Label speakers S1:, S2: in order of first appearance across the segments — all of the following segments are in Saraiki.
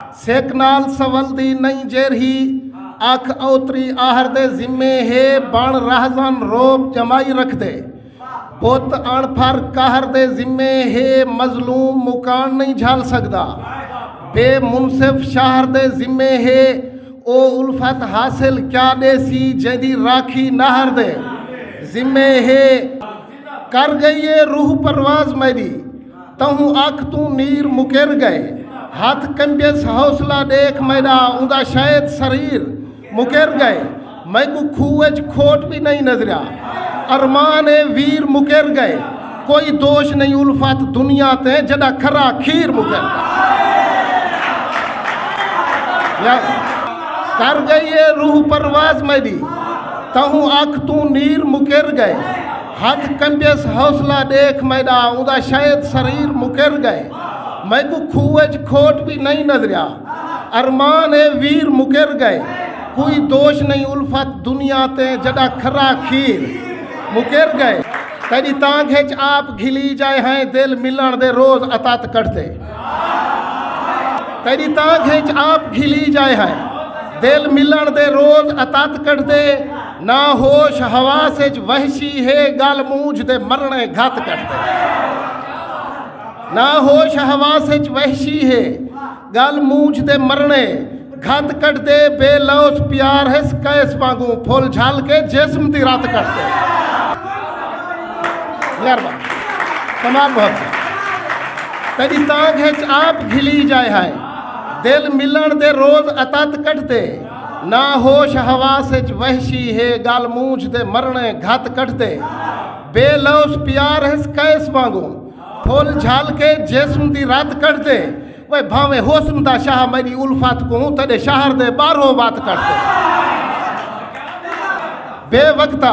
S1: سک نال سولدی نئیں جیرھی اکھ اوتری آہر دے ذمے ہے بن رہزن رعب جمائی رکھدے بت اݨ پھر قہر دے ذمے ہے مظلوم مکان نئیں جھل سکدا بے منصف شہر دے ذمے ہے او الفت حاصل کیا ڈیسی جیندی راکھی نہر دے ذمے ہے کر گئی ہے روح پرواز میری تہوں اکھ توں نیر مکر گئے ہتھ کنجس حوصلہ ڈیکھ میڈا اوندا شاید سریر مکر گئے میکوں کھو اچ کھوٹ وی نہیں نظریا ارمان اے ویر مکر گئے کوئی دوش نہیں الفت دنیا تے جڈا کھرا کھیر مکر گئے کر گئی اے روح پرواز میڈی تہوں اکھ توں نیر مکر گئے ہتھ کنڈیس حوصلہ ڈیکھ میڈا اوندا شاید سریر مکر گئے میکوں کھوہ اچ کھوٹ وی نئیں نظریا ارمان اے ویر مکر گئے کوئی دوش نئیں الفت دنیا تے جڈا کھرا کھیر مکر گئے تیڈی تانگھ اچ آپ گھلی جائے ہائیں دل ملن دے روز اتت کٹھدے تیڈی تانگھ اچ آپ گھلی جائے ہائیں دل ملن دے روز اتت کٹھدے نہ ہوش حواس اچ وحشی ہے گل مونجھ دے مرنے گھت کٹ دے نہ ہوش حواس اچ وحشی ہے گل مونجھ دے مرنے گھت کٹ دے بے لوس پیار ہے سکیس وانگو پھول جھل کے جسم دی رات کٹ دے مہربان تمام بہت سے تیری تانگ ہے آپ گھلی جائے ہائے دل ملن دے روز اتت کٹ دے نہ ہوش حواس اچ وحشی ہے گل مونجھ دے مرنے گھت کٹدے بے لوس پیار ہس قیس وانگو پھول جھل کے جسم دی رت کٹدے وے بھاویں حسن دا شاہ میری الفت کو تیرے شہر دے باہروں وت کٹدے بے وقتا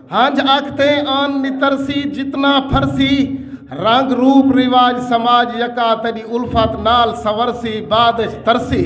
S1: ہنج اکھتے آن نترسی جتنا پھرسی رنگ روپ رواج سماج یکا تیڈی الفت نال سنورسی بعد اچ ترسی۔